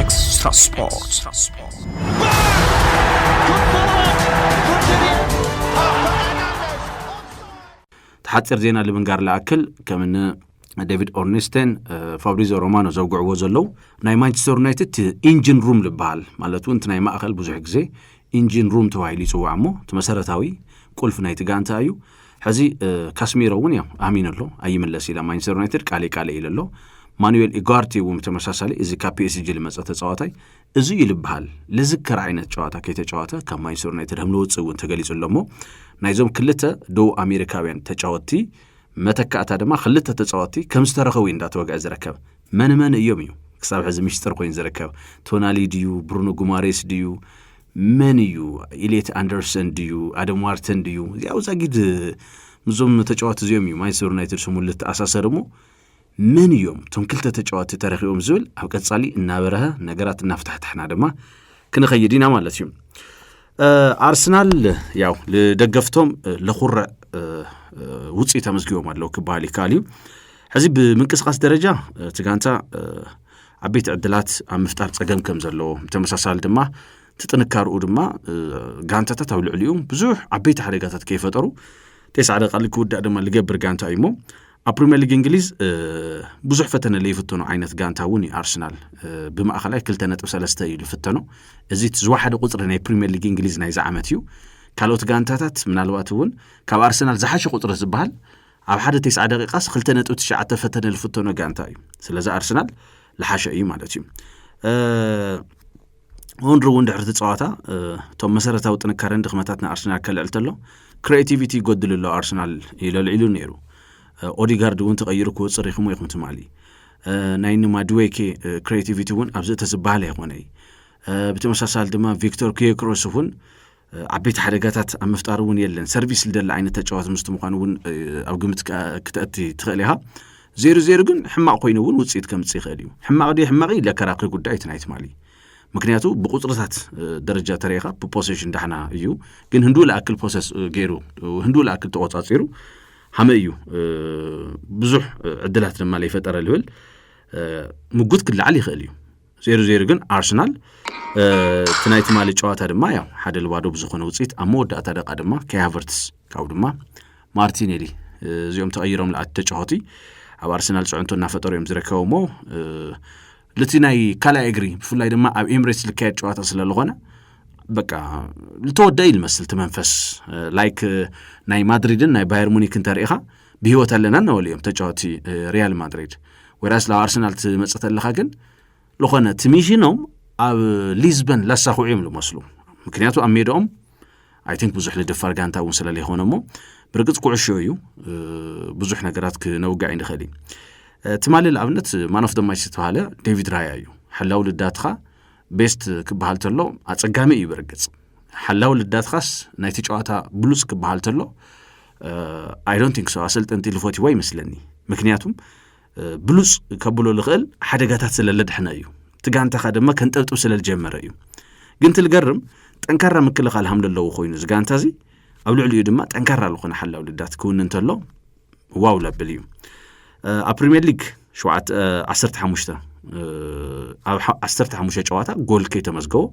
Extra Sport. ሓፂር ዜና ልምንጋር ልኣክል ከም ን ዴቪድ ኦርኒስቴን ፋብሪዞ ሮማኖ ዘውግዕዎ ዘለዉ ናይ ማንቸስተር ዩናይትድ እቲ ኢንጂን ሩም ዝበሃል ማለት እውን እቲ ናይ ማእኸል ብዙሕ ግዜ ኢንጂን ሩም ተባሂሉ ይፅዋዕ እሞ እቲ መሰረታዊ ቁልፊ ናይቲ ጋንታ እዩ ሕዚ ካስሚሮ እውን ያው ኣሚኑ ኣሎ ኣይምለስ ኢላ ማንቸስተር ዩናይትድ ቃሌ ቃሌ ኢለ ኣሎ ማኑኤል ኢጓርቲ እውን ብተመሳሳሊ እዚ ካብ ፒኤስጂ ዝመፀ ተፃዋታይ እዚ እዩ ዝበሃል ልዝከር ዓይነት ጨዋታ ከይተጫወተ ካብ ማንቸስተር ዩናይትድ ከም ዝወፅእ እውን ተገሊፁ ኣሎ እሞ ናይዞም ክልተ ደቡብ ኣሜሪካውያን ተጫወትቲ መተካእታ ድማ ክልተ ተፃወትቲ ከም ዝተረኸቡ እዩ እንዳተወግዐ ዝረከብ መን መን እዮም እዩ ክሳብ ሕዚ ምሽጥር ኮይኑ ዝርከብ ቶናሊ ድዩ ብሩኖ ጉማሬስ ድዩ መን እዩ ኢሌት ኣንደርሰን ድዩ ኣደም ዋርተን ድዩ እዚኣ ውፃጊድ ምዞም ተጫዋቲ እዚኦም እዩ ማንቸስተር ዩናይትድ ስሙ ልተኣሳሰር እሞ መን እዮም እቶም ክልተ ተጫዋቲ ተረኪቦም ዝብል ኣብ ቀጻሊ እናበረሀ ነገራት እናፍታሕታሕና ድማ ክንኸይድ ኢና ማለት እዩ ኣርሰናል ያው ልደገፍቶም ለኹረዕ ውፅኢት ኣመዝጊቦም ኣለዉ ክበሃል ይከኣል እዩ ሕዚ ብምንቅስቃስ ደረጃ እቲ ጋንታ ዓበይቲ ዕድላት ኣብ ምፍጣር ጸገም ከም ዘለዎ ብተመሳሳሊ ድማ እቲ ጥንካርኡ ድማ ጋንታታት ኣብ ልዕሊኡ ብዙሕ ዓበይቲ ሓደጋታት ከይፈጠሩ ቴስዓ ደቃሊ ክውዳእ ድማ ዝገብር ጋንታ እዩ እሞ ኣብ ፕሪምየር ሊግ እንግሊዝ ብዙሕ ፈተነ ለይፍተኑ ዓይነት ጋንታ እውን እዩ ኣርሰናል ብማእኸላይ ክልተ ነጥብ ሰለስተ እዩ ዝፍተኖ እዚ እቲ ዝወሓደ ቁፅሪ ናይ ፕሪምየር ሊግ እንግሊዝ ናይዚ ዓመት እዩ ካልኦት ጋንታታት ምናልባት እውን ካብ ኣርሰናል ዝሓሸ ቁፅሪ ዝበሃል ኣብ ሓደ ቴስዓ ደቂቃስ ክልተ ነጥቢ ትሽዓተ ፈተነ ዝፍተኖ ጋንታ እዩ ስለዚ ኣርሰናል ልሓሸ እዩ ማለት እዩ ሆንሪ እውን ድሕርቲ ፀዋታ እቶም መሰረታዊ ጥንካረን ድኽመታት ንኣርሰናል ከልዕል ተሎ ክሬቲቪቲ ይጎድል ኣሎ ኣርሰናል ኢለልዒሉ ነይሩ ኦዲጋርድ እውን ተቐይሩ ክወፅእ ሪኽሞ ኢኹም ትማሊ ናይ ንማድዌኬ ክሬቲቪቲ እውን ኣብዚ እተዝበሃል ኣይኮነ እዩ ብተመሳሳሊ ድማ ቪክቶር ክየክሮስ እውን ዓበይቲ ሓደጋታት ኣብ ምፍጣር እውን የለን ሰርቪስ ልደሊ ዓይነት ተጫዋት ምስቲ ምኳኑ እውን ኣብ ግምት ክተእቲ ትኽእል ኢኻ ዜሩ ዜሩ ግን ሕማቕ ኮይኑ እውን ውፅኢት ከምፅእ ይኽእል እዩ ሕማቕ ድ ሕማቕ ለከራክሪ ጉዳይ እቲ ናይ ትማሊ ምክንያቱ ብቁፅርታት ደረጃ ተሪኢኻ ብፖሴሽን ዳሕና እዩ ግን ህንዱ ልኣክል ፖሰስ ገይሩ ህንዱ ልኣክል ተቆፃፂሩ ሃመ እዩ ብዙሕ ዕድላት ድማ ለይፈጠረ ልብል ምጉት ክለዓል ይኽእል እዩ ዜሮ ዜሮ ግን ኣርሰናል እቲ ናይ ትማሊ ጨዋታ ድማ ያው ሓደ ልባዶ ብዝኾነ ውፅኢት ኣብ መወዳእታ ደቃ ድማ ከያቨርትስ ካብኡ ድማ ማርቲኔሊ እዚኦም ተቐይሮም ልኣት ተጫወቲ ኣብ ኣርሰናል ፅዕንቶ እናፈጠሩ እዮም ዝርከቡ እሞ ልቲ ናይ ካልኣይ እግሪ ብፍላይ ድማ ኣብ ኤምሬትስ ልካየድ ጨዋታ ስለዝኾነ በቃ ልተወደኢ ልመስል እቲ መንፈስ ላይክ ናይ ማድሪድን ናይ ባየር ሙኒክ እንተርኢኻ ብሂወት ኣለና እናበሉ እዮም ተጫወቲ ሪያል ማድሪድ ወይራስ ናብ ኣርሰናል ትመፅእ ተለካ ግን ዝኾነ እቲ ሚሽኖም ኣብ ሊዝበን ላሳኹዑ እዮም ዝመስሉ ምክንያቱ ኣብ ሜዳኦም ኣይ ቲንክ ብዙሕ ንደፋር ጋንታ እውን ስለለይኮነ እሞ ብርግፅ ኩዕሾ እዩ ብዙሕ ነገራት ክነውጋዕ ይንኽእል እዩ ትማሊ ንኣብነት ማኖፍ ደማች ዝተባሃለ ዴቪድ ራያ እዩ ሓላዊ ልዳትኻ ቤስት ክበሃል ተሎ ኣፀጋሚ እዩ ብርግፅ ሓላዊ ልዳትኻስ ናይቲ ጨዋታ ብሉፅ ክበሃል ተሎ ኣይዶንቲንክ ሶ ኣሰልጠንቲ ልፈትዎ ይመስለኒ ምክንያቱም ብሉፅ ከብሎ ዝኽእል ሓደጋታት ስለለድሕነ እዩ እቲ ጋንታኻ ድማ ከንጠብጥብ ስለዝጀመረ እዩ ግን ትልገርም ጠንካራ ምክልኻል ሃም ዘለዎ ኮይኑ እዚ ጋንታ እዚ ኣብ ልዕሊኡ ድማ ጠንካራ ዝኾነ ሓላው ልዳት ክውን እንተሎ ዋው ለብል እዩ ኣብ ፕሪምየር ሊግ ዓሰርተ ሓሙሽተ ኣብ ዓሰርተ ሓሙሽተ ጨዋታ ጎል ከይተመዝገቦ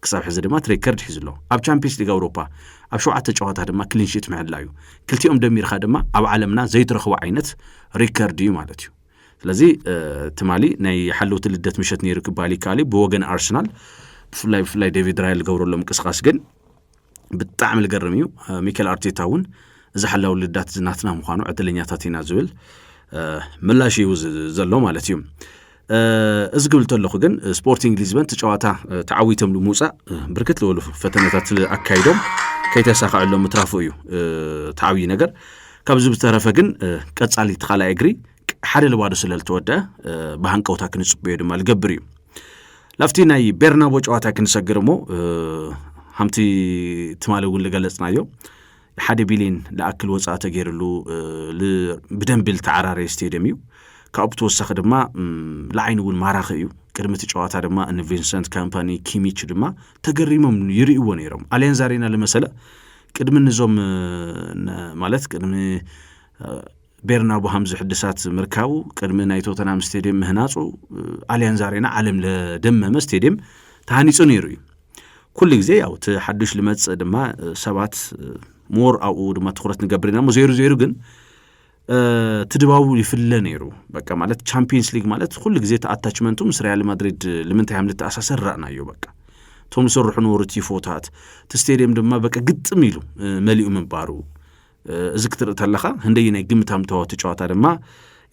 ክሳብ ሕዚ ድማ እቲ ሬከርድ ሒዙ ኣሎ ኣብ ቻምፒየንስ ሊግ ኣውሮፓ ኣብ ሸውዓተ ጨዋታ ድማ ክሊንሽት ምሕላ እዩ ክልቲኦም ደሚርካ ድማ ኣብ ዓለምና ዘይትረኽቦ ዓይነት ሪከርድ እዩ ማለት እዩ ስለዚ ትማሊ ናይ ሓለውቲ ልደት ምሸት ነይሩ ክበሃል ይከኣል እዩ ብወገን ኣርሰናል ብፍላይ ብፍላይ ዴቪድ ራይል ዝገብረሎም እንቅስቃስ ግን ብጣዕሚ ልገርም እዩ ሚካኤል ኣርቴታ እውን እዚ ሓላዊ ልዳት እዚ ናትና ምዃኑ ዕድለኛታት ኢና ዝብል ምላሽ እዩ ዘሎ ማለት እዩ እዚ ክብል ተለኹ ግን ስፖርቲንግ ሊዝበን እቲ ጨዋታ ተዓዊቶም ንምውፃእ ብርክት ዝበሉ ፈተነታት ኣካይዶም ከይተሳኸዐሎም ምትራፉ እዩ ተዓብዪ ነገር ካብዚ ብተረፈ ግን ቀፃሊ እቲ ካልኣይ እግሪ ሓደ ልባዶ ስለ ዝተወድአ ብሃንቀውታ ክንጽበዮ ድማ ዝገብር እዩ ላብቲ ናይ ቤርናቦ ጨዋታ ክንሰግር እሞ ሃምቲ ትማሊ እውን ዝገለጽናዮ ሓደ ቢሊን ዝኣክል ወፃኢ ተገይርሉ ብደንቢ ዝተዓራረየ ስቴድየም እዩ ካብኡ ብተወሳኺ ድማ ንዓይኒ እውን ማራኺ እዩ ቅድሚ እቲ ጨዋታ ድማ እኒ ቪንሰንት ካምፓኒ ኪሚች ድማ ተገሪሞም ይርእዎ ነይሮም ኣልያንዝ ኣሬና ዝመሰለ ቅድሚ ንዞም ማለት ቅድሚ ቤርናቡሃም ዝሕድሳት ምርካቡ ቅድሚ ናይ ቶተናም ስቴድየም ምህናፁ ኣልያንዝ ኣሬና ዓለም ለደመመ ስቴድየም ተሃኒፁ ነይሩ እዩ ኩሉ ግዜ ያው እቲ ሓዱሽ ልመፅእ ድማ ሰባት ሞር ኣብኡ ድማ ትኩረት ንገብር ኢና ሞ ዘይሩ ዘይሩ ግን እቲ ድባቡ ይፍለ ነይሩ በቃ ማለት ቻምፒየንስ ሊግ ማለት ኩሉ ግዜ እቲ ኣታችመንቱ ምስ ሪያል ማድሪድ ልምንታይ ሃም ልተኣሳሰር ራእናዮ በቃ እቶም ዝስርሑ ነበሩ ቲፎታት እቲ ስቴድየም ድማ በቃ ግጥም ኢሉ መሊኡ ምንባሩ እዚ ክትርኢ ተለኻ ህንደይ ናይ ግምታም ተዋቲ ጨዋታ ድማ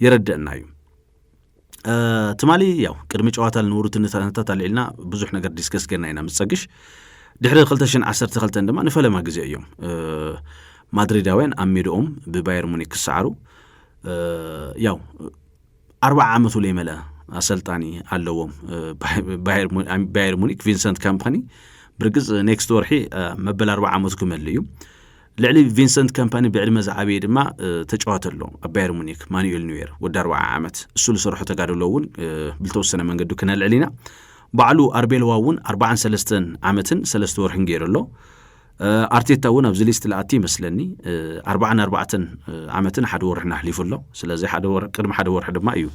የረድአና እዩ ትማሊ ያው ቅድሚ ጨዋታ ልንብሩ ትንታነታት ኣልዒልና ብዙሕ ነገር ዲስከስ ገና ኢና ምስ ፀግሽ ድሕሪ 212 ድማ ንፈለማ ግዜ እዮም ማድሪዳውያን ኣብ ሜድኦም ብባየር ሙኒክ ክሰዓሩ ያው ኣርብዓ ዓመቱ ለይመልአ ኣሰልጣኒ ኣለዎም ባየር ሙኒክ ቪንሰንት ካምፓኒ ብርግፅ ኔክስት ወርሒ መበል ኣርብዓ ዓመቱ ክመልእ እዩ ልዕሊ ቪንሰንት ከምፓኒ ብዕድመ ዝዓበየ ድማ ተጫዋተ ኣሎ ኣብ ባየር ሙኒክ ማኑኤል ኒዌር ወዲ ኣርባዓ ዓመት እሱ ዝሰርሖ ተጋድሎ እውን ብልተወሰነ መንገዱ ክነልዕል ኢና ባዕሉ ኣርቤልዋ እውን ኣርባዓን ሰለስተን ዓመትን ሰለስተ ወርሕን ገይሩ ኣሎ ኣርቴታ እውን ኣብዚ ሊስት ልኣቲ ይመስለኒ ኣርባዓን ኣርባዕተን ዓመትን ሓደ ወርሕን ኣሕሊፉ ኣሎ ስለዚ ቅድሚ ሓደ ወርሒ ድማ እዩ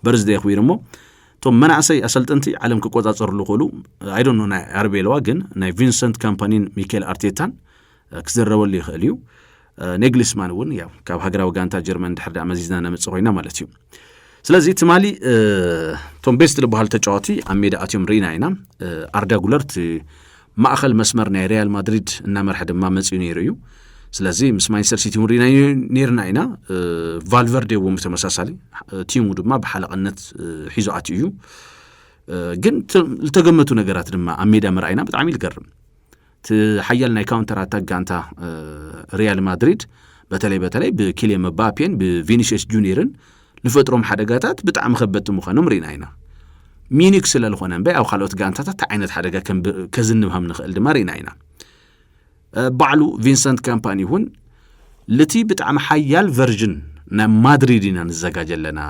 በርዝደ ኣኽቢሩ እሞ እቶም መናእሰይ ኣሰልጠንቲ ዓለም ክቆፃፀርሉ ክእሉ ኣይዶኖ ናይ ኣርቤለዋ ግን ናይ ቪንሰንት ካምፓኒን ሚካኤል ኣርቴታን ክዝረበሉ ይኽእል እዩ ኔግሊስማን እውን ያው ካብ ሃገራዊ ጋንታ ጀርመን ድሕር ዳኣ መዚዝና ነምፅ ኮይና ማለት እዩ ስለዚ ትማሊ እቶም ቤስት ዝበሃሉ ተጫዋቲ ኣብ ሜዳ ኣትዮም ርኢና ኢና ኣርዳ ጉለር እቲ ማእኸል መስመር ናይ ሪያል ማድሪድ እናመርሐ ድማ መፅኡ ነይሩ እዩ ስለዚ ምስ ማንቸስተር ሲቲ እውን ርኢና ነርና ኢና ቫልቨርዴ እውን ብተመሳሳሊ ቲሙ ድማ ብሓለቐነት ሒዞ ኣትዩ እዩ ግን ዝተገመቱ ነገራት ድማ ኣብ ሜዳ መርኣይና ብጣዕሚ ዝገርም እቲ ሓያል ናይ ካውንተር ኣታክ ጋንታ ሪያል ማድሪድ በተለይ በተለይ ብኪልየ መባፔን ብቪኒሽስ ጁኒርን ዝፈጥሮም ሓደጋታት ብጣዕሚ ከበድቲ ምዃኖም ርኢና ኢና ሚኒክ ስለ ዝኾነ እምበ ኣብ ካልኦት ጋንታታት እቲ ዓይነት ሓደጋ ከዝንብ ከም ንኽእል ድማ ርኢና ኢና ባዕሉ ቪንሰንት ካምፓኒ እውን ልቲ ብጣዕሚ ሓያል ቨርዥን ናይ ማድሪድ ኢና ንዘጋጀ ኣለና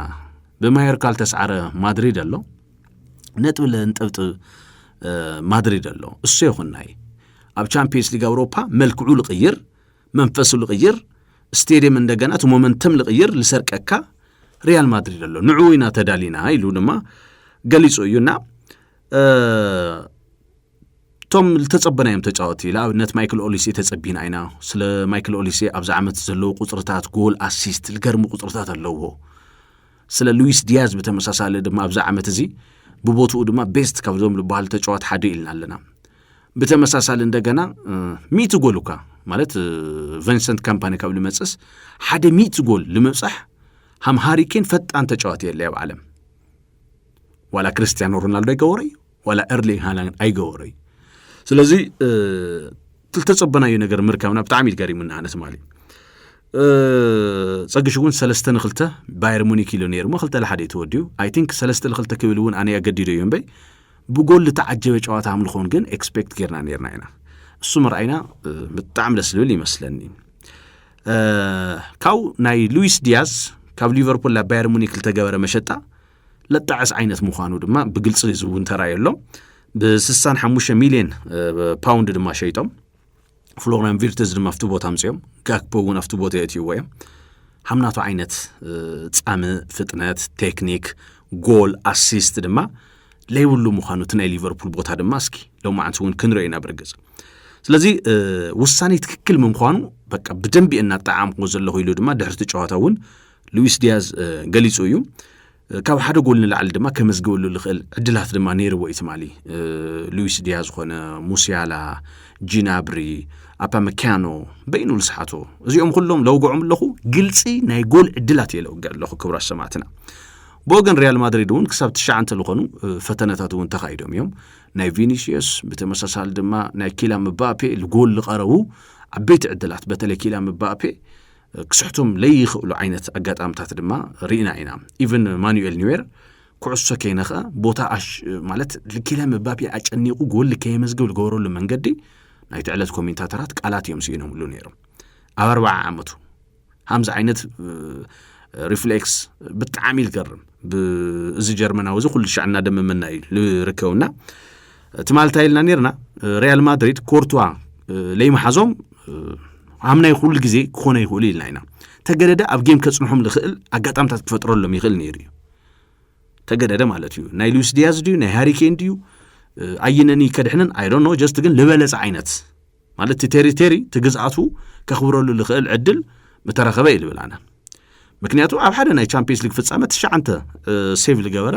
ብማየርካል ተስዓረ ማድሪድ ኣሎ ነጥብ ለንጠብጥብ ማድሪድ ኣሎ እሱ ይኹናይ ኣብ ቻምፒየንስ ሊግ ኣውሮፓ መልክዑ ልቕይር መንፈሱ ልቕይር ስቴድየም እንደገና እቲ ሞመንተም ልቕይር ልሰርቀካ ሪያል ማድሪድ ኣሎ ንዑ ኢና ተዳሊና ኢሉ ድማ ገሊጹ እዩና እቶም ዝተጸበናዮም ተጫወቲ ንኣብነት ማይክል ኦሊሴ ተጸቢና ኢና ስለ ማይክል ኦሊሴ ኣብዚ ዓመት ዘለዎ ቁፅርታት ጎል ኣሲስት ልገርሚ ቁፅርታት ኣለዎ ስለ ሉዊስ ዲያዝ ብተመሳሳሊ ድማ ኣብዚ ዓመት እዚ ብቦትኡ ድማ ቤስት ካብዞም ዝበሃሉ ተጫዋት ሓደ ኢልና ኣለና ብተመሳሳሊ እንደገና ሚእቲ ጎል እኳ ማለት ቨንሰንት ካምፓኒ ካብ ልመፅስ ሓደ ሚእቲ ጎል ልምብፃሕ ሃም ሃሪኬን ፈጣን ተጫዋት የለ ኣብ ዓለም ዋላ ክርስትያኖ ሮናልዶ ይገበሮ እዩ ዋላ ኤርሊንግ ሃላንድ ኣይገበሮዩ ስለዚ ዝተፀበናዩ ነገር ምርካብና ብጣዕሚ ገሪሙና ኣነ ትማሊ ፀግሽ እውን ሰለስተ ንክልተ ባየር ሙኒክ ኢሉ ነይሩ ሞ ክልተ ለሓደ ተወዲኡ ኣይ ቲንክ ሰለስተ ንክልተ ክብል እውን ኣነ ኣገዲዶ እዩ እምበይ ብጎል ዝተዓጀበ ጨዋታ ኣምልኾን ግን ኤክስፔክት ጌርና ነርና ኢና እሱ ምርኣይና ብጣዕሚ ደስ ዝብል ይመስለኒ ካብኡ ናይ ሉዊስ ዲያዝ ካብ ሊቨርፑል ናብ ባየር ሙኒክ ዝተገበረ መሸጣ ለጣዕስ ዓይነት ምዃኑ ድማ ብግልፂ ዝውን ተራእዩ ኣሎ ብስሳን ሓሙሽተ ሚልዮን ፓውንድ ድማ ሸይጦም ፍሎሪያን ቪርትዝ ድማ ኣብቲ ቦታ ኣምፅኦም ጋክፖ እውን ኣብቲ ቦታ የእትይዎ እዮም ሃምናቱ ዓይነት ፃሚ ፍጥነት ቴክኒክ ጎል ኣሲስት ድማ ለይብሉ ምዃኑ እቲ ናይ ሊቨርፑል ቦታ ድማ እስኪ ሎማዓንቲ እውን ክንሪኦ ኢና ብርግፅ ስለዚ ውሳኔ ትክክል ምንኳኑ በቃ ብደንቢ እናጣዓምኩ ዘለኹ ኢሉ ድማ ድሕርቲ ጨዋታ እውን ሉዊስ ዲያዝ ገሊጹ እዩ ካብ ሓደ ጎል ንላዕሊ ድማ ከመዝግበሉ ዝኽእል ዕድላት ድማ ነይርዎ እዩ ትማሊ ሉዊስ ዲያ ዝኾነ ሙስያላ ጂናብሪ ኣፓ መካያኖ በይኑ ልስሓቶ እዚኦም ኩሎም ለውግዖም ኣለኹ ግልፂ ናይ ጎል ዕድላት እየ ለውግዕ ኣለኹ ክብራ ሰማዕትና ብወገን ሪያል ማድሪድ እውን ክሳብ ትሽዓንተ ዝኾኑ ፈተነታት እውን ተኻይዶም እዮም ናይ ቪኒሽየስ ብተመሳሳሊ ድማ ናይ ኪላ ምባፔ ልጎል ዝቐረቡ ዓበይቲ ዕድላት በተለይ ኪላ ምባፔ ክስሕቱም ለይኽእሉ ዓይነት ኣጋጣምታት ድማ ርኢና ኢና ኢቨን ማኑኤል ኒዌር ኩዕሶ ከይነኸ ቦታ ማለት ልኪለ መባፔ ኣጨኒቑ ጎል ከየመዝግብ ዝገበረሉ መንገዲ ናይቲ ዕለት ኮሜንታተራት ቃላት እዮም ስኢኖምሉ ነይሮም ኣብ ኣርባዓ ዓመቱ ሃምዚ ዓይነት ሪፍሌክስ ብጣዕሚ ዝገርም እዚ ጀርመናዊ እዚ ኩሉ ሻዕ እናደመመና እዩ ዝርከብና ትማል እንታይ ኢልና ነርና ሪያል ማድሪድ ኮርቱዋ ለይመሓዞም ኣምናይ ኩሉ ግዜ ክኾነ ይኽእሉ ኢልና ኢና ተገደደ ኣብ ጌም ከጽንሖም ዝኽእል ኣጋጣምታት ክፈጥረሎም ይኽእል ነይሩ እዩ ተገደደ ማለት እዩ ናይ ሉዊስ ዲያዝ ድዩ ናይ ሃሪኬን ድዩ ኣይነኒ ከድሕነን ኣይዶኖ ጀስት ግን ዝበለጸ ዓይነት ማለት እቲ ቴሪቴሪ እቲ ግዝኣቱ ከኽብረሉ ዝኽእል ዕድል ምተረኸበ እዩ ልብል ኣነ ምክንያቱ ኣብ ሓደ ናይ ቻምፒየንስ ሊግ ፍጻመ ትሽዓንተ ሴቭ ዝገበረ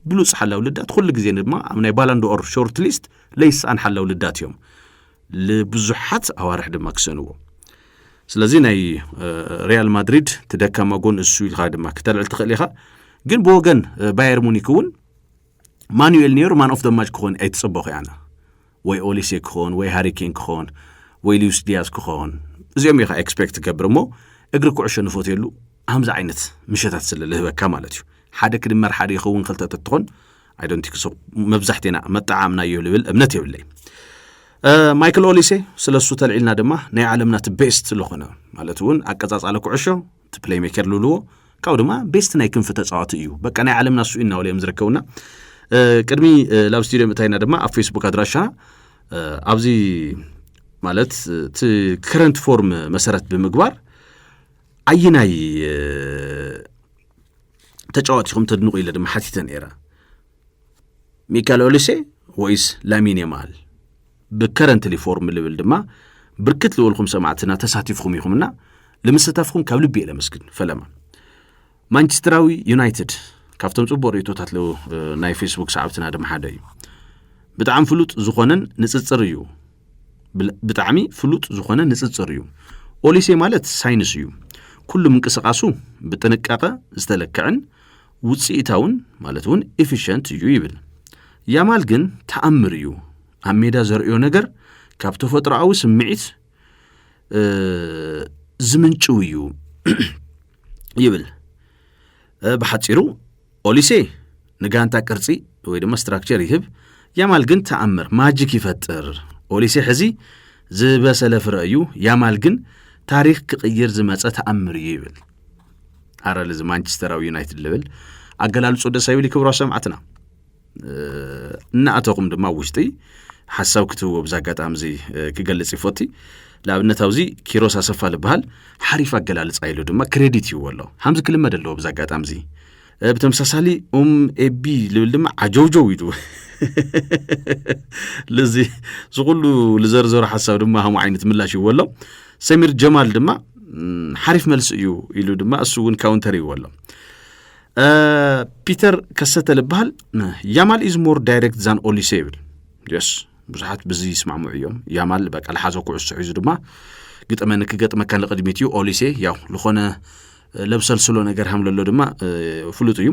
ብሉፅ ሓላዊ ልዳት ኩሉ ግዜ ድማ ኣብ ናይ ባላንድኦር ሾርት ሊስት ለይስኣን ሓላዊ ልዳት እዮም ንብዙሓት ኣዋርሕ ድማ ክስእንዎ ስለዚ ናይ ሪያል ማድሪድ ትደካማ ጎን እሱ ኢልካ ድማ ክተልዕል ትኽእል ኢኻ ግን ብወገን ባየር ሙኒክ እውን ማኑኤል ኔሩ ማን ኦፍ ደ ማች ክኾን ኣይትጸበኹ ኣነ ወይ ኦሊሴ ክኾን ወይ ሃሪኬን ክኾን ወይ ሊዩስ ዲያዝ ክኾን እዚኦም ኢኻ ኤክስፔክት ትገብር እሞ እግሪ ኩዕሾ ንፈትየሉ ከምዚ ዓይነት ምሸታት ስለ ልህበካ ማለት እዩ ሓደ ክድመር ሓደ ይኸውን ክልተ ተትኾን ኣይዶንቲክሶ መብዛሕቴና መጠዓምናዮ ልብል እምነት የብለይ ማይክል ኦሊሴ ስለ እሱ ተልዒልና ድማ ናይ ዓለምና እቲ ቤስት ዝኾነ ማለት እውን ኣቀጻጻለ ኩዕሾ እቲ ፕሌይሜከር ልብልዎ ካብኡ ድማ ቤስት ናይ ክንፊ ተፃዋቲ እዩ በቃ ናይ ዓለምና እሱ እናበለ እዮም ዝርከቡና ቅድሚ ናብ ስቱድዮ ምእታይና ድማ ኣብ ፌስቡክ ኣድራሻ ኣብዚ ማለት እቲ ከረንት ፎርም መሰረት ብምግባር ኣየናይ ተጫዋቲኹም ተድንቑ ኢለ ድማ ሓቲተ ነይረ ሚካኤል ኦሊሴ ወይስ ላሚን የማል ብከረንትሊ ፎርም ልብል ድማ ብርክት ዝበልኩም ሰማዕትና ተሳቲፍኩም ኢኹምና ልምስታፍኩም ካብ ልቢ እየ ለመስግን ፈለማ ማንቸስተራዊ ዩናይትድ ካብቶም ፅቡቅ ርእቶታት ለው ናይ ፌስቡክ ሰዓብትና ድማ ሓደ እዩ ብጣዕሚ ፍሉጥ ዝኾነን ንፅፅር እዩ ብጣዕሚ ፍሉጥ ዝኾነ ንፅፅር እዩ ኦሊሴ ማለት ሳይንስ እዩ ኩሉ ምንቅስቃሱ ብጥንቃቐ ዝተለክዕን ውፅኢታውን ማለት እውን ኢፊሸንት እዩ ይብል። ያማል ግን ተኣምር እዩ ኣብ ሜዳ ዘርእዮ ነገር ካብ ተፈጥሮኣዊ ስምዒት ዝምንጭው እዩ ይብል። ብሓፂሩ ኦሊሴ ንጋንታ ቅርፂ ወይ ድማ ስትራክቸር ይህብ፣ ያማል ግን ተኣምር ማጂክ ይፈጥር። ኦሊሴ ሕዚ ዝበሰለ ፍረ እዩ፣ ያማል ግን ታሪክ ክቕይር ዝመፀ ተኣምር እዩ ይብል። ኣረ ልዚ ማንቸስተራዊ ዩናይትድ ልብል ኣገላልጹ ደስ ኣይብል ክብሮ ሰማዕትና እናኣተኹም ድማ ውሽጢ ሓሳብ ክትህቦ ብዛ ኣጋጣሚ እዚ ክገልጽ ይፈቲ ንኣብነት ኣብዚ ኪሮስ ኣሰፋ ዝበሃል ሓሪፍ ኣገላልጻ ኢሉ ድማ ክሬዲት ይዎ ኣሎ ሓምዚ ክልመድ ኣለዎ ብዛ ኣጋጣሚ እዚ ብተመሳሳሊ ኡም ኤቢ ልብል ድማ ዓጀውጀው ኢሉ ልዚ ዝኩሉ ዝዘርዘሩ ሓሳብ ድማ ሃሙ ዓይነት ምላሽ ይዎ ኣሎ ሰሚር ጀማል ድማ ሓሪፍ መልሲ እዩ ኢሉ ድማ እሱ እውን ካውንተር ይዎ ኣሎ ፒተር ከሰተ ልበሃል ያማል ኢዝ ሞር ዳይሬክት ዛን ኦሊሴ ይብል የስ ብዙሓት ብዚ ይስማዕምዑ እዮም ያማል በቃ ልሓዞ ኩዕሶ ሒዙ ድማ ግጠመኒ ክገጥመካ ንቅድሚት እዩ ኦሊሴ ያው ዝኾነ ለብሰልስሎ ነገር ሃም ለሎ ድማ ፍሉጥ እዩ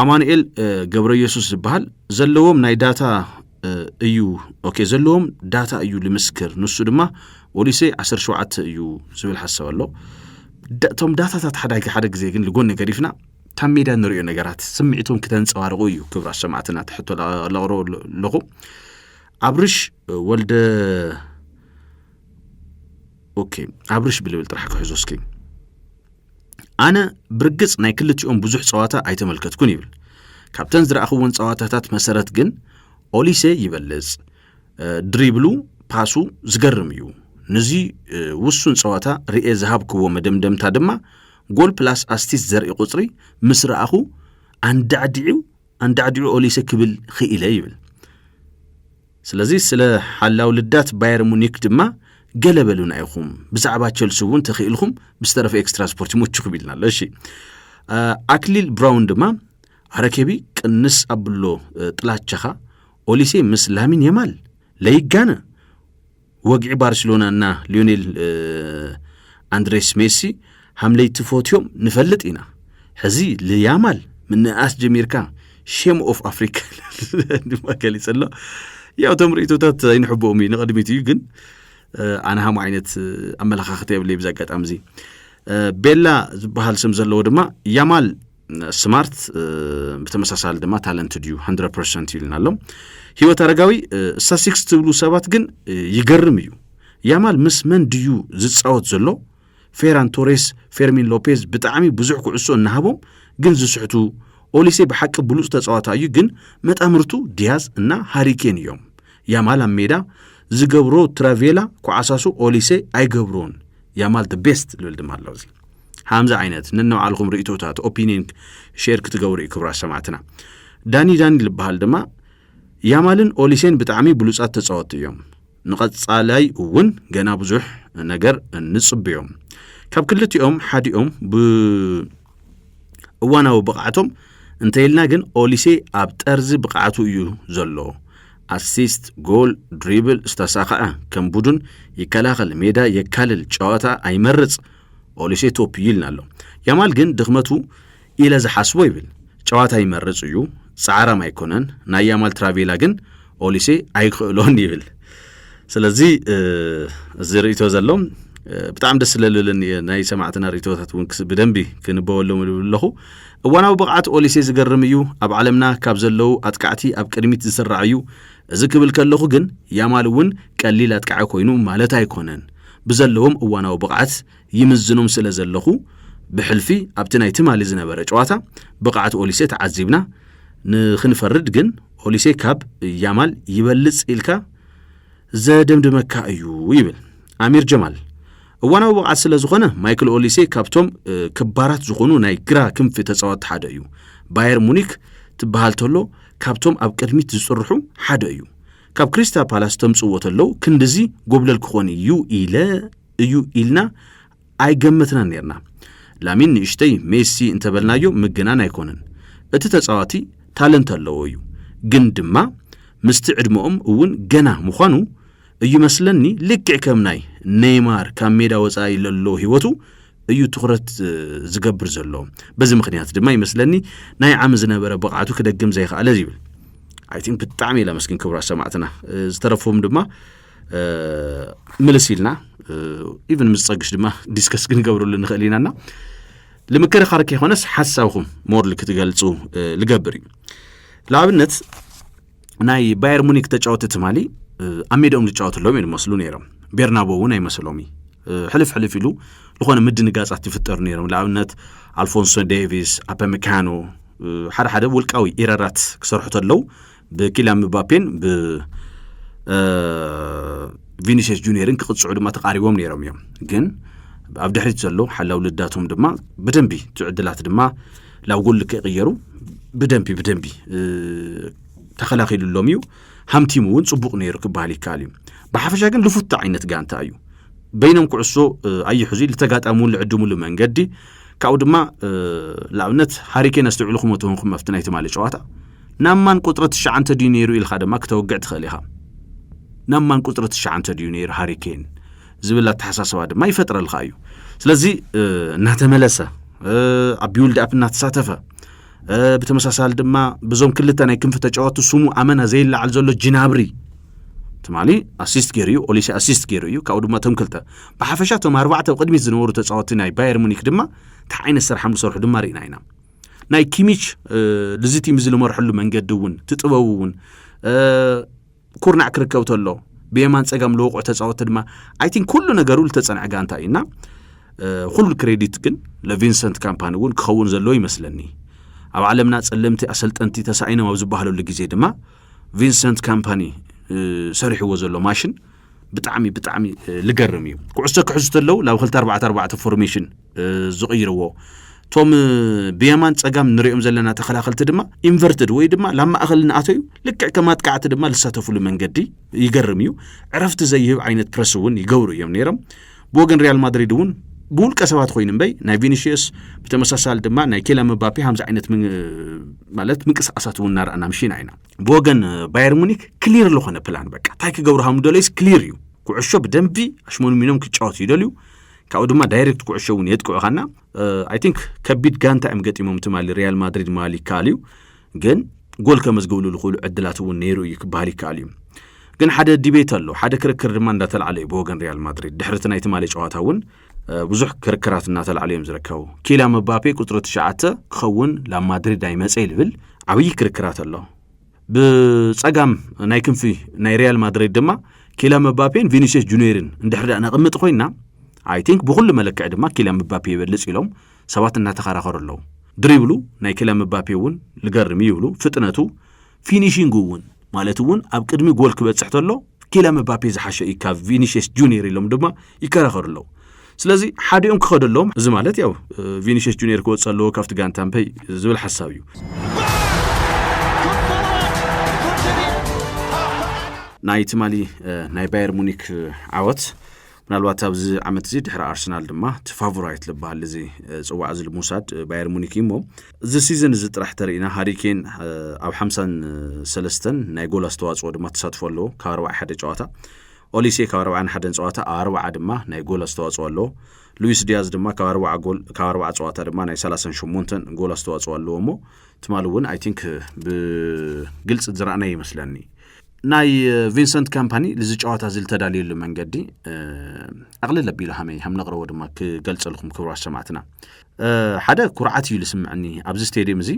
ኣማኑኤል ገብረ ኢየሱስ ዝበሃል ዘለዎም ናይ ዳታ እዩ ኦኬ ዘለዎም ዳታ እዩ ልምስክር ንሱ ድማ ወሊሰ 17 እዩ ዝብል ሓሳብ ኣሎ እቶም ዳታታት ሓደ ሓደ ግዜ ግን ልጎኒ ገዲፍና ካብ ሜዳ ንሪኦ ነገራት ስምዒቶም ክተንፀባርቑ እዩ ክብራት ሰማዕትና ትሕቶ ለቕሮ ኣለኹ ኣብርሽ ወልደ ኦኬ ኣብርሽ ብልብል ጥራሕ ክሕዞ እስኪ ኣነ ብርግጽ ናይ ክልቲኦም ብዙሕ ጸዋታ ኣይተመልከትኩን ይብል ካብተን ዝረኣኽወን ጸዋታታት መሰረት ግን ኦሊሴ ይበልጽ ድሪብሉ ፓሱ ዝገርም እዩ ንዚ ውሱን ጸዋታ ርኤ ዝሃብክዎ መደምደምታ ድማ ጎል ፕላስ ኣስቲስ ዘርኢ ቁጽሪ ምስ ረኣኹ ኣንዳዕዲዑ ኣንዳዕዲዑ ኦሊሴ ክብል ኽኢለ ይብል ስለዚ ስለ ሓላው ልዳት ባየር ሙኒክ ድማ ገለ በሉና ኢኹም። ብዛዕባ ቸልሲ እውን ተኽኢልኹም ብዝተረፈ ኤክስትራ ስፖርት ይሞችኹም ኢልና ኣሎ። እሺ ኣክሊል ብራውን ድማ ኣረኬቢ ቅንስ ኣብሎ ጥላቸኻ ኦሊሴ ምስ ላሚን የማል ለይጋነ ወግዒ ባርሴሎና እና ሊዮኔል ኣንድሬስ ሜሲ ሃምለይቲ ፎትዮም ንፈልጥ ኢና ሕዚ ልያማል ምንእኣስ ጀሚርካ ሼም ኦፍ ኣፍሪካ ድማ ገሊፅ ኣሎ ያው እቶም ርእቶታት ኣይንሕብኦም እዩ ንቐድሚት እዩ ግን ኣነ ሃሙ ዓይነት ኣመለኻኽተ የብለይ ብዚ ኣጋጣሚ እዚ ቤላ ዝበሃል ስም ዘለዎ ድማ ያማል ስማርት ብተመሳሳሊ ድማ ታለንት ድዩ ሃንድረ ፐርሰንት ይልና ኣሎ ህይወት ኣረጋዊ ስታስቲክስ ትብሉ ሰባት ግን ይገርም እዩ ያማል ምስ መን ድዩ ዝፃወት ዘሎ ፌራን ቶሬስ ፌርሚን ሎፔዝ ብጣዕሚ ብዙሕ ኩዕሶ እናሃቦም ግን ዝስሕቱ ኦሊሴ ብሓቂ ብሉፅ ተፃዋታ እዩ ግን መጣምርቱ ዲያዝ እና ሃሪኬን እዮም ያማል ኣብ ሜዳ ዝገብሮ ትራቬላ ኩዓሳሱ ኦሊሴ ኣይገብሮን ያማል ደ ቤስት ልብል ድማ ኣሎ እዚ ሃምዚ ዓይነት ነናባዕልኹም ርእቶታት ኦፒኒን ሼር ክትገብሩ እዩ ክብራት ሰማዕትና ዳኒ ዳኒ ዝበሃል ድማ ያማልን ኦሊሴን ብጣዕሚ ብሉፃት ተፃወትቲ እዮም ንቐፃላይ እውን ገና ብዙሕ ነገር ንፅብዮም ካብ ክልቲኦም ሓዲኦም ብ እዋናዊ ብቕዓቶም እንተይልና ግን ኦሊሴ ኣብ ጠርዚ ብቕዓቱ እዩ ዘሎ ኣሲስት ጎል ድሪብል ዝተሳኸዐ ከም ቡዱን ይከላኸል ሜዳ የካልል ጨዋታ ኣይመርፅ ኦሊሴ ቶፕ እዩ ኢልና ኣሎ ያማል ግን ድኽመቱ ኢለ ዝሓስቦ ይብል ጨዋታ ይመርፅ እዩ ፃዕራም ኣይኮነን ናይ ያማል ትራቬላ ግን ኦሊሴ ኣይክእሎን ይብል ስለዚ እዚ ርእቶ ዘሎ ብጣዕሚ ደስ ስለልብለኒ እየ ናይ ሰማዕትና ርእቶታት እውን ብደንቢ ክንበበሎም ልብል ኣለኹ እዋናዊ ብቕዓት ኦሊሴ ዝገርም እዩ ኣብ ዓለምና ካብ ዘለዉ ኣጥቃዕቲ ኣብ ቅድሚት ዝስራዕ እዩ እዚ ክብል ከለኹ ግን ያማል እውን ቀሊል ኣጥቃዒ ኮይኑ ማለት ኣይኮነን ብዘለዎም እዋናዊ ብቕዓት ይምዝኑም ስለ ዘለኹ ብሕልፊ ኣብቲ ናይ ትማሊ ዝነበረ ጨዋታ ብቕዓት ኦሊሴ ተዓዚብና ንኽንፈርድ ግን ኦሊሴ ካብ ያማል ይበልጽ ኢልካ ዘደምድመካ እዩ ይብል ኣሚር ጀማል። እዋናዊ ብቕዓት ስለ ዝኾነ ማይክል ኦሊሴ ካብቶም ክባራት ዝኾኑ ናይ ግራ ክንፊ ተጻወትቲ ሓደ እዩ። ባየር ሙኒክ ትበሃል ተሎ ካብቶም ኣብ ቅድሚት ዝጽርሑ ሓደ እዩ። ካብ ክሪስታል ፓላስ ተምጽዎ ተለው ክንድዚ ጎብለል ክኾን እዩ ኢለ እዩ ኢልና ኣይገመትናን ነርና። ላሚን ንእሽተይ ሜሲ እንተበልናዮ ምግናን ኣይኮነን። እቲ ተጻዋቲ ታለንት ኣለዎ እዩ ግን ድማ ምስቲ ዕድመኦም እውን ገና ምዃኑ እዩ መስለኒ ልክዕ ከም ናይ ነይማር ካብ ሜዳ ወጻኢ ለሎ ህይወቱ እዩ ትኹረት ዝገብር ዘሎ በዚ ምክንያት ድማ ይመስለኒ ናይ ዓሚ ዝነበረ ብቕዓቱ ክደግም ዘይክኣለ ይብል ኣይ ቲንክ ብጣዕሚ ኢለ መስኪን ክብራት ሰማዕትና ዝተረፎም ድማ ምልስ ኢልና ኢቨን ምስ ፀግሽ ድማ ዲስከስ ክንገብርሉ ንኽእል ኢና እና ልምክርኻር ከይኮነስ ሓሳብኹም ሞርል ክትገልፁ ልገብር እዩ ንኣብነት ናይ ባየር ሙኒክ ተጫወቲ ትማሊ ኣብ ሜዳኦም ዝጫወቱ ኣለዎም እዮም ዝመስሉ ነይሮም ቤርናቦ እውን ኣይመስሎም እዩ ሕልፍ ሕልፍ ኢሉ ዝኾነ ምድንጋጻት ይፍጠሩ ነይሮም ንኣብነት ኣልፎንሶ ዴቪስ ኣፐሚካኖ ሓደ ሓደ ውልቃዊ ኢረራት ክሰርሑ ተለው ብኪልያን ምባፔን ብቪኒሽስ ጁኒየርን ክቕፅዑ ድማ ተቓሪቦም ነይሮም እዮም ግን ኣብ ድሕሪት ዘሎ ሓላው ልዳቶም ድማ ብደንቢ ትዕድላት ድማ ላብ ጎል ክቕየሩ ብደንቢ ብደንቢ ተኸላኺሉሎም እዩ ሃምቲሙ እውን ፅቡቕ ነይሩ ክበሃል ይከኣል እዩ ብሓፈሻ ግን ልፉት ዓይነት ጋንታ እዩ በይኖም ኩዕሶ ኣይሕዙ ልተጋጣሙን ልዕድሙሉ መንገዲ ካብኡ ድማ ንኣብነት ሃሪኬን ኣስተውዕልኹም ተሆንኩም ኣብቲ ናይ ትማሊ ጨዋታ ናብ ማን ቁጽሪ ትሽዓንተ ድዩ ነይሩ ኢልካ ድማ ክተውግዕ ትኽእል ኢኻ። ናብ ማን ቁጽሪ ትሽዓንተ ድዩ ነይሩ ሃሪ ኬን ዝብል ኣተሓሳስባ ድማ ይፈጥረልካ እዩ። ስለዚ እናተመለሰ ኣብ ቢውልድ ኣፕ እናተሳተፈ ብተመሳሳሊ ድማ ብዞም ክልተ ናይ ክንፊ ተጫወቱ ስሙ ኣመና ዘይለዓል ዘሎ ጅናብሪ ትማሊ ኣሲስት ገይሩ እዩ ኦሊሴ ኣሲስት ገይሩ እዩ ካብኡ ድማ እቶም ክልተ ብሓፈሻ እቶም ኣርባዕተ ቅድሚት ዝነበሩ ተፃወቲ ናይ ባየር ሙኒክ ድማ እንታይ ዓይነት ስራሕ ምሰርሑ ድማ ርኢና ኢና ናይ ኪሚች ልዚቲም እዚ ዝመርሐሉ መንገዲ እውን እቲ ጥበቡ እውን ኩርናዕ ክርከብ ተሎ ብየማን ጸጋም ለወቑዕ ተጻወቲ ድማ ኣይ ቲንክ ኩሉ ነገሩ ዝተጸንዐ ጋንታ እዩ እና ኩሉ ክሬዲት ግን ለቪንሰንት ካምፓኒ እውን ክኸውን ዘለዎ ይመስለኒ ኣብ ዓለምና ጸለምቲ ኣሰልጠንቲ ተሳኢኖም ኣብ ዝበሃለሉ ግዜ ድማ ቪንሰንት ካምፓኒ ሰሪሕዎ ዘሎ ማሽን ብጣዕሚ ብጣዕሚ ልገርም እዩ ኩዕሶ ክሕዙ ተለው ናብ ክልተ ኣርባዕተ ኣርባዕተ ፎርሜሽን ዝቕይርዎ። እቶም ብየማን ጸጋም ንሪኦም ዘለና ተኸላኸልቲ ድማ ኢንቨርትድ ወይ ድማ ላብ ማእኸል እናኣተዩ ልክዕ ከም ኣጥቃዕቲ ድማ ዝሳተፍሉ መንገዲ ይገርም እዩ። ዕረፍቲ ዘይህብ ዓይነት ፕረስ እውን ይገብሩ እዮም ነይሮም። ብወገን ሪያል ማድሪድ እውን ብውልቀ ሰባት ኮይኑ እምበይ ናይ ቪኒሽየስ ብተመሳሳሊ ድማ ናይ ኬላ መባፔ ከምዚ ዓይነት ማለት ምንቅስቃሳት እውን እናረኣና ምሽና ኢና ብወገን ባየር ሙኒክ ክሊር ዝኾነ ፕላን በቃ እንታይ ክገብሩ ሃምዶለይስ ክሊር እዩ ኩዕሾ ብደንቢ ኣሽሞንሚኖም ክጫወቱ ይደልዩ ካብኡ ድማ ዳይሬክት ኩዕሾ እውን የጥቅዑኻና ኣይ ቲንክ ከቢድ ጋንታ እዮም ገጢሞም ትማሊ ሪያል ማድሪድ ምባል ይከኣል እዩ ግን ጎል ከመዝግብሉ ዝኽእሉ ዕድላት እውን ነይሩ እዩ ክበሃል ይከኣል እዩ ግን ሓደ ዲቤት ኣሎ ሓደ ክርክር ድማ እንዳተላዕለ እዩ ብወገን ሪያል ማድሪድ ድሕርቲ ናይ ትማሊ ጨዋታ እውን ብዙሕ ክርክራት እናተላዕለ እዮም ዝርከቡ ኪላ መባፔ ቁፅሪ ትሽዓተ ክኸውን ናብ ማድሪድ ኣይመፀ ይብል ዓብዪ ክርክራት ኣሎ ብጸጋም ናይ ክንፊ ናይ ሪያል ማድሪድ ድማ ኪላ መባፔን ቪኒሲየስ ጁኒየርን እንድሕር ደኣ ነቕምጥ ኮይና ኣይ ቲንክ ብኹሉ መለክዒ ድማ ኪላ መባፔ ይበልጽ ኢሎም ሰባት እናተኸራኸሩ ኣለዉ ድሪብሉ ናይ ኪላ መባፔ እውን ልገርም ይብሉ ፍጥነቱ ፊኒሽንግ እውን ማለት እውን ኣብ ቅድሚ ጎል ክበጽሕ ተሎ ኪልያን ምባፔ ዝሓሸ እዩ ካብ ቪኒሽስ ጁኒየር ኢሎም ድማ ይከራኸሩ ኣለዉ ስለዚ ሓዲኦም ክኸዱ ኣለዎም እዚ ማለት ያው ቪኒሽስ ጁኒየር ክወፅ ኣለዎ ካብቲ ጋንታ ምፐይ ዝብል ሓሳብ እዩ ናይ ትማሊ ናይ ባየር ሙኒክ ዓወት ምናልባት ኣብዚ ዓመት እዚ ድሕሪ ኣርሰናል ድማ እቲ ፋቮራይት ዝበሃል እዚ ፅዋዕ እዚ ልምውሳድ ባየር ሙኒክ እዩ እሞ እዚ ሲዝን እዚ ጥራሕ ተርእና ሃሪኬን ኣብ ሓምሳን ሰለስተን ናይ ጎል ኣስተዋፅኦ ድማ ተሳትፎ ኣለዎ ካብ ኣርባዓ ሓደ ጨዋታ ኦሊሴ ካብ ኣርባዓን ሓደን ፀዋታ ኣርባዓ ድማ ናይ ጎል ኣስተዋፅኦ ኣለዎ ሉዊስ ዲያዝ ድማ ካብ ኣርባዓ ጎል ካብ ኣርባዓ ፀዋታ ድማ ናይ ሰላሳን ሸሞንተን ጎል ኣስተዋፅኦ ኣለዎ እሞ ትማሊ እውን ኣይ ቲንክ ብግልፂ ዝረኣናይ ይመስለኒ ናይ ቪንሰንት ካምፓኒ እዚ ጨዋታ እዚ ዝተዳልየሉ መንገዲ ኣቕልል ኣቢሉ ሃመይ ሃም ነቕረቦ ድማ ክገልጸልኩም ክብራት ሰማዕትና ሓደ ኩርዓት እዩ ዝስምዐኒ ኣብዚ ስቴድየም እዚ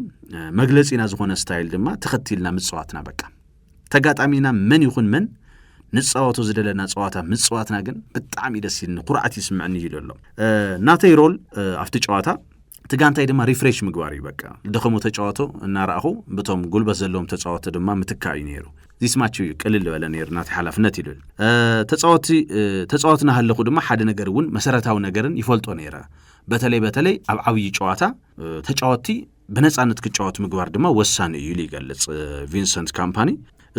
መግለፂና ዝኾነ ስታይል ድማ ተኸቲልና ምፅዋትና በቃ ተጋጣሚና መን ይኹን መን ንፃወቶ ዝደለና ፀዋታ ምፅዋትና ግን ብጣዕሚ ደስ ይልኒ ኩርዓት ይስምዐኒ እዩ ዘሎ ናተይ ሮል ኣብቲ ጨዋታ እቲ ጋንታይ ድማ ሪፍሬሽ ምግባር እዩ በቃ ደኸሙ ተጫወቶ እናረኣኹ ብቶም ጉልበት ዘለዎም ተፃወቶ ድማ ምትካእ እዩ ነይሩ ዚስማች እዩ ቅልል በለ ነይሩ ናቲ ሓላፍነት ኢሉ ተፃወቲ ተፃወት ናሃለኹ ድማ ሓደ ነገር እውን መሰረታዊ ነገርን ይፈልጦ ነይረ በተለይ በተለይ ኣብ ዓብዪ ጨዋታ ተጫወቲ ብነፃነት ክጫወት ምግባር ድማ ወሳኒ እዩ ኢሉ ይገልፅ ቪንሰንት ካምፓኒ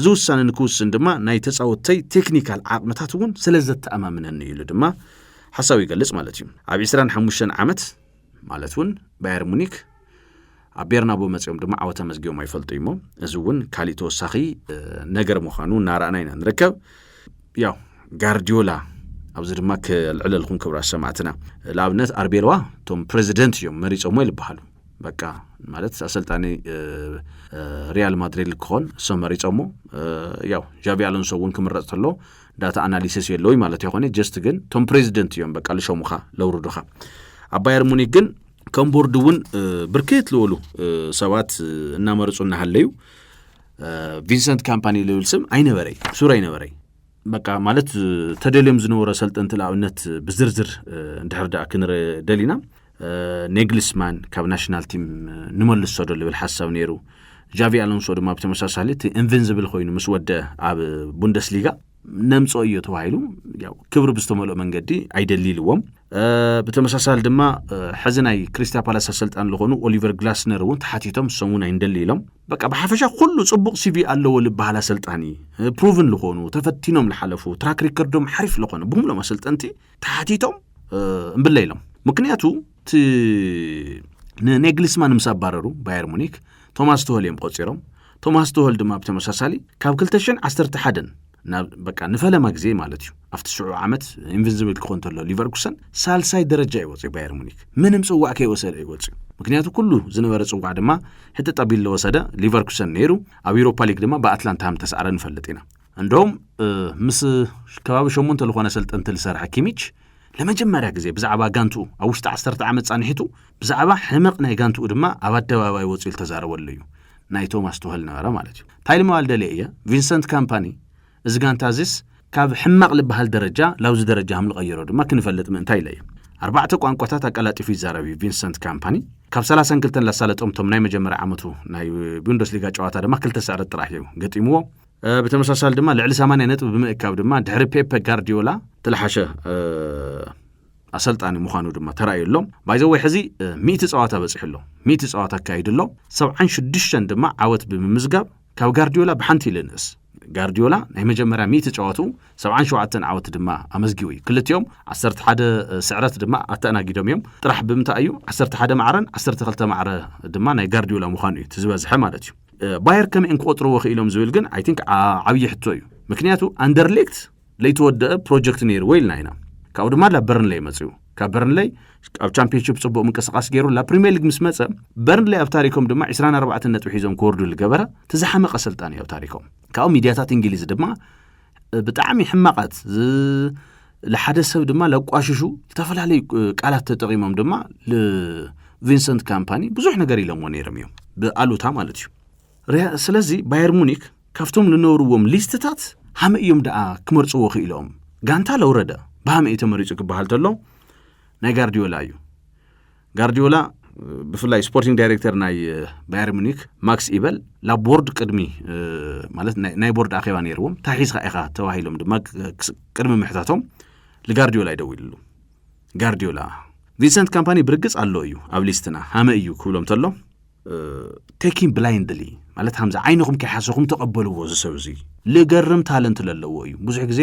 እዚ ውሳነ ንክውስን ድማ ናይ ተፃወተይ ቴክኒካል ዓቕምታት እውን ስለ ዘተኣማምነኒ ኢሉ ድማ ሓሳብ ይገልፅ ማለት እዩ ኣብ 25 ዓመት ማለት እውን ባየር ሙኒክ ኣብ ቤርናቦ መፅኦም ድማ ዓወት ኣመዝጊቦም ኣይፈልጡ እዩሞ እዚ እውን ካሊእ ተወሳኺ ነገር ምዃኑ እናረኣና ኢና ንርከብ ያው ጋርዲዮላ ኣብዚ ድማ ክልዕለልኩም ክብራት ሰማዕትና ንኣብነት ኣርቤልዋ እቶም ፕሬዚደንት እዮም መሪፆሞ ይልበሃሉ በቃ ማለት ኣሰልጣኒ ሪያል ማድሪድ ክኾን እሶም መሪፆሞ ያው ዣቪ ኣሎንሶ እውን ክምረፅ ተሎ ዳታ ኣናሊሲስ የለውይ ማለት የኾነ ጀስት ግን ቶም ፕሬዚደንት እዮም በቃ ልሸሙኻ ለውርዱኻ ኣብ ባየር ሙኒክ ግን ከም ቦርድ እውን ብርክት ልበሉ ሰባት እናመርፁ እናሃለዩ ቪንሰንት ካምፓኒ ልብል ስም ኣይነበረይ ሱር ኣይነበረይ በቃ ማለት ተደልዮም ዝነበረ ሰልጠንቲ ንኣብነት ብዝርዝር እንድሕር ደኣ ክንርኢ ደሊና ኔግሊስማን ካብ ናሽናል ቲም ንመልሶ ዶ ልብል ሓሳብ ነይሩ ጃቪ ኣሎንሶ ድማ ብተመሳሳሊ እቲ ኢንቨንዚብል ኮይኑ ምስ ወደ ኣብ ቡንደስሊጋ ነምጾ እዮ ተባሂሉ ክብሪ ብዝተመልኦ መንገዲ ኣይደሊልዎም ብተመሳሳሊ ድማ ሕዚ ናይ ክሪስታ ፓላስ ኣሰልጣን ዝኾኑ ኦሊቨር ግላስነር እውን ተሓቲቶም ንሶም እውን ኣይንደሊ ኢሎም በቃ ብሓፈሻ ኩሉ ፅቡቕ ሲቪ ኣለዎ ዝበሃል ኣሰልጣኒ ፕሩቭን ዝኾኑ ተፈቲኖም ዝሓለፉ ትራክ ሪከርዶም ሓሪፍ ዝኾነ ብምሎም ኣሰልጠንቲ ተሓቲቶም እምብለ ኢሎም ምክንያቱ እቲ ንኔግሊስማን ምስ ኣባረሩ ባየር ሙኒክ ቶማስ ትሆል እዮም ቆፂሮም ቶማስ ትሆል ድማ ብተመሳሳሊ ካብ 211 ናብ በቃ ንፈለማ ግዜ ማለት እዩ ኣብቲ ሽዑ ዓመት ኢንቨንዚብል ክኾን ተሎ ሊቨርኩሰን ሳልሳይ ደረጃ ይወፅዩ ባየር ሙኒክ ምንም ፅዋዕ ከይወሰደ ይወፅዩ ምክንያቱ ኩሉ ዝነበረ ፅዋዕ ድማ ሕጥጣ ቢሎ ወሰደ ሊቨርኩሰን ነይሩ ኣብ ኤሮፓ ሊግ ድማ ብኣትላንታ ከም ተሰዕረ ንፈልጥ ኢና እንደውም ምስ ከባቢ ሸሞንተ ዝኾነ ሰልጠንቲ ዝሰርሐ ኪሚች ለመጀመርያ ግዜ ብዛዕባ ጋንትኡ ኣብ ውሽጢ ዓሰርተ ዓመት ፃንሒቱ ብዛዕባ ሕመቕ ናይ ጋንትኡ ድማ ኣብ ኣደባባይ ወፂኡ ዝተዛረበሉ እዩ ናይ ቶማስ ቱኸል ነበረ ማለት እዩ እንታይ ልመባል ደልየ እየ ቪንሰንት ካምፓኒ እዚ ጋንታ እዚስ ካብ ሕማቕ ዝበሃል ደረጃ ላብዚ ደረጃ ሃም ልቐየሮ ድማ ክንፈልጥ ምእንታይ ኢለ እየ ኣርባዕተ ቋንቋታት ኣቀላጢፉ ይዛረብ እዩ ቪንሰንት ካምፓኒ ካብ 32 ላሳለጦም እቶም ናይ መጀመርያ ዓመቱ ናይ ቡንደስሊጋ ጨዋታ ድማ ክልተ ስዕረት ጥራሕ እዩ ገጢምዎ ብተመሳሳሊ ድማ ልዕሊ 80 ነጥቢ ብምእካብ ድማ ድሕሪ ፔፐ ጋርዲዮላ ተለሓሸ ኣሰልጣኒ ምዃኑ ድማ ተራእዩ ኣሎ ባይዘወይ ሕዚ ሚእቲ ፀዋታ በፂሑ ኣሎ ሚእቲ ፀዋታ ኣካይዱ ኣሎ ሰብዓን ሽዱሽተን ድማ ዓወት ብምምዝጋብ ካብ ጋርዲዮላ ብሓንቲ ኢለ ንእስ ጋርዲዮላ ናይ መጀመርያ ሚእቲ ጨዋቱ ሰብዓን ሸውዓተን ዓወት ድማ ኣመዝጊቡ እዩ ክልቲኦም ዓሰርተ ሓደ ስዕረት ድማ ኣተኣናጊዶም እዮም ጥራሕ ብምንታይ እዩ ዓሰርተ ሓደ ማዕረን ዓሰርተ ክልተ ማዕረ ድማ ናይ ጋርዲዮላ ምዃኑ እዩ እቲ ዝበዝሐ ማለት እዩ ባየር ከመይ እዮም ክቆጥርዎ ክኢሎም ዝብል ግን ኣይ ቲንክ ዓብዪ ሕቶ እዩ ምክንያቱ ኣንደርሌክት ለይተወደአ ፕሮጀክት ነይርዎ ኢልና ኢና ካብኡ ድማ ላብ በርንለይ መፅኡ ካብ በርንለይ ኣብ ቻምፒዮንሽፕ ፅቡቅ ምንቅስቃስ ገይሩ ላብ ፕሪሚየር ሊግ ምስ መፀ በርንለይ ኣብ ታሪኮም ድማ 24 ነጥቢ ሒዞም ክወርዱ ዝገበረ እቲ ዝሓመቀ ኣሰልጣኒ ኣብ ታሪኮም ካብኡ ሚድያታት እንግሊዝ ድማ ብጣዕሚ ሕማቓት ንሓደ ሰብ ድማ ለቋሽሹ ዝተፈላለዩ ቃላት ተጠቒሞም ድማ ንቪንሰንት ካምፓኒ ብዙሕ ነገር ኢሎምዎ ነይሮም እዮም ብኣሉታ ማለት እዩ ስለዚ ባየር ሙኒክ ካብቶም ዝነበርዎም ሊስትታት ሃመ እዮም ደኣ ክመርፅዎ ክኢሎም ጋንታ ለውረደ ብሃመ እዩ ተመሪፁ ክበሃል ተሎ ናይ ጋርዲዮላ እዩ ጋርዲዮላ ብፍላይ ስፖርቲንግ ዳይሬክተር ናይ ባየር ሙኒክ ማክስ ኢበል ናብ ቦርድ ቅድሚ ማለት ናይ ቦርድ ኣኼባ ነይርዎም እንታይ ሒዝካ ኢኻ ተባሂሎም ድማ ቅድሚ ምሕታቶም ንጋርዲዮላ ይደውልሉ ጋርዲዮላ ቪንሰንት ካምፓኒ ብርግጽ ኣሎ እዩ ኣብ ሊስትና ሃመ እዩ ክብሎም ተሎ ቴኪን ብላይንድሊ ማለት ሃምዚ ዓይንኹም ከይሓሰኹም ተቐበልዎ ዝሰብ እዚ ልገርም ታለንት ዘለዎ እዩ ብዙሕ ግዜ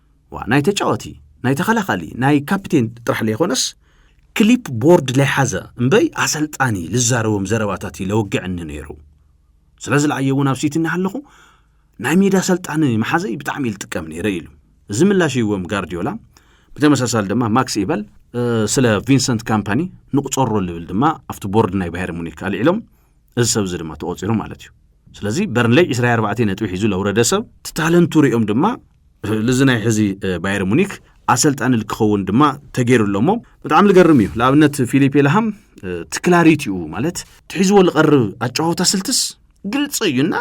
ዋ ናይ ተጫወቲ ናይ ተኸላኻሊ ናይ ካፕቴን ጥራሕ ለይኾነስ ክሊፕ ቦርድ ለይሓዘ እምበይ ኣሰልጣኒ ልዛረቦም ዘረባታት እዩ ለወግዐኒ ነይሩ ስለዚ ለኣየ እውን ኣብ ሲቲ እናሃለኹ ናይ ሜዳ ኣሰልጣኒ መሓዘይ ብጣዕሚ እዩ ልጥቀም ነይረ ኢሉ እዚ ምላሽ ይዎም ጋርዲዮላ ብተመሳሳሊ ድማ ማክስ ኢበል ስለ ቪንሰንት ካምፓኒ ንቁፀሮ ልብል ድማ ኣብቲ ቦርድ ናይ ባሄር ሙኒክ ኣልዒሎም እዚ ሰብ እዚ ድማ ተቖፂሩ ማለት እዩ ስለዚ በርንለይ 24 ነጥቢ ሒዙ ለውረደ ሰብ ትታለንቱ ሪኦም ድማ ልዚ ናይ ሕዚ ባየር ሙኒክ ኣሰልጣኒ ክኸውን ድማ ተገይሩ ኣሎ እሞ ብጣዕሚ ዝገርም እዩ ንኣብነት ፊሊፔ ላሃም ትክላሪት እዩ ማለት ትሒዝዎ ዝቐርብ ኣጨዋወታ ስልትስ ግልፂ እዩና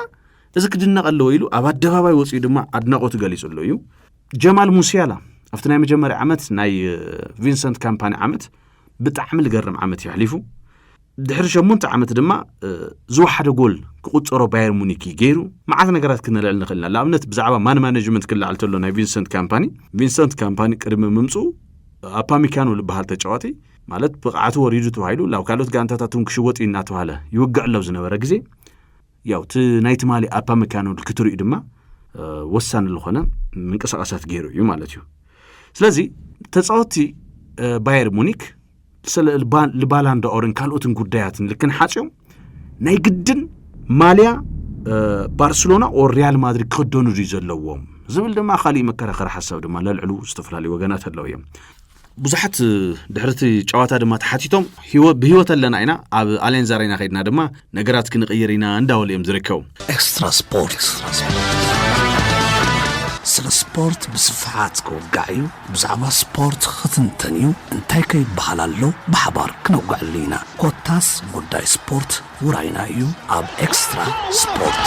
እዚ ክድነቕ ኣለዎ ኢሉ ኣብ ኣደባባይ ወፅኡ ድማ ኣድናቖቱ ገሊጹ ኣሎ እዩ ጀማል ሙስያላ ኣብቲ ናይ መጀመርያ ዓመት ናይ ቪንሰንት ካምፓኒ ዓመት ብጣዕሚ ዝገርም ዓመት እዩ ኣሕሊፉ ድሕሪ ሸሞንተ ዓመት ድማ ዝወሓደ ጎል ክቁፀሮ ባየር ሙኒክ ገይሩ መዓት ነገራት ክነልዕል ንኽእል ኢና ንኣብነት ብዛዕባ ማን ማኔጅመንት ክለዓል ተሎ ናይ ቪንሰንት ካምፓኒ ቪንሰንት ካምፓኒ ቅድሚ ምምፅኡ ኣፓሚካኖ ዝበሃል ተጫዋቲ ማለት ብቕዓቱ ወሪዱ ተባሂሉ ናብ ካልኦት ጋንታታት እውን ክሽወጥ እዩ እናተባሃለ ይውግዕ ኣሎ ዝነበረ ግዜ ያው እቲ ናይ ትማሊ ኣፓሚካኖ ክትርእዩ ድማ ወሳኒ ዝኾነ ምንቅስቓሳት ገይሩ እዩ ማለት እዩ ስለዚ ተፃወቲ ባየር ሙኒክ ስለ ልባላንዳኦርን ካልኦትን ጉዳያትን ልክን ሓፂኦም ናይ ግድን ማልያ ባርሴሎና ኦር ሪያል ማድሪድ ክኽደኑ ድዩ ዘለዎም ዝብል ድማ ካሊእ መከራኸሪ ሓሳብ ድማ ለልዕሉ ዝተፈላለዩ ወገናት ኣለዉ እዮም ብዙሓት ድሕርቲ ጨዋታ ድማ ተሓቲቶም ብሂወት ኣለና ኢና ኣብ ኣሌንዝ ኣሬና ከድና ድማ ነገራት ክንቕይር ኢና እንዳበሉ እዮም ዝርከቡ። ኤክስትራ ስፖርት ስለ ስፖርት ብስፍሓት ክውጋዕ እዩ፣ ብዛዕባ ስፖርት ክትንተን እዩ፣ እንታይ ከ ይበሃል ኣሎ ብሓባር ክነውግዐሉ ኢና። ኮታስ ጉዳይ ስፖርት ውራይና እዩ ኣብ ኤክስትራ ስፖርት።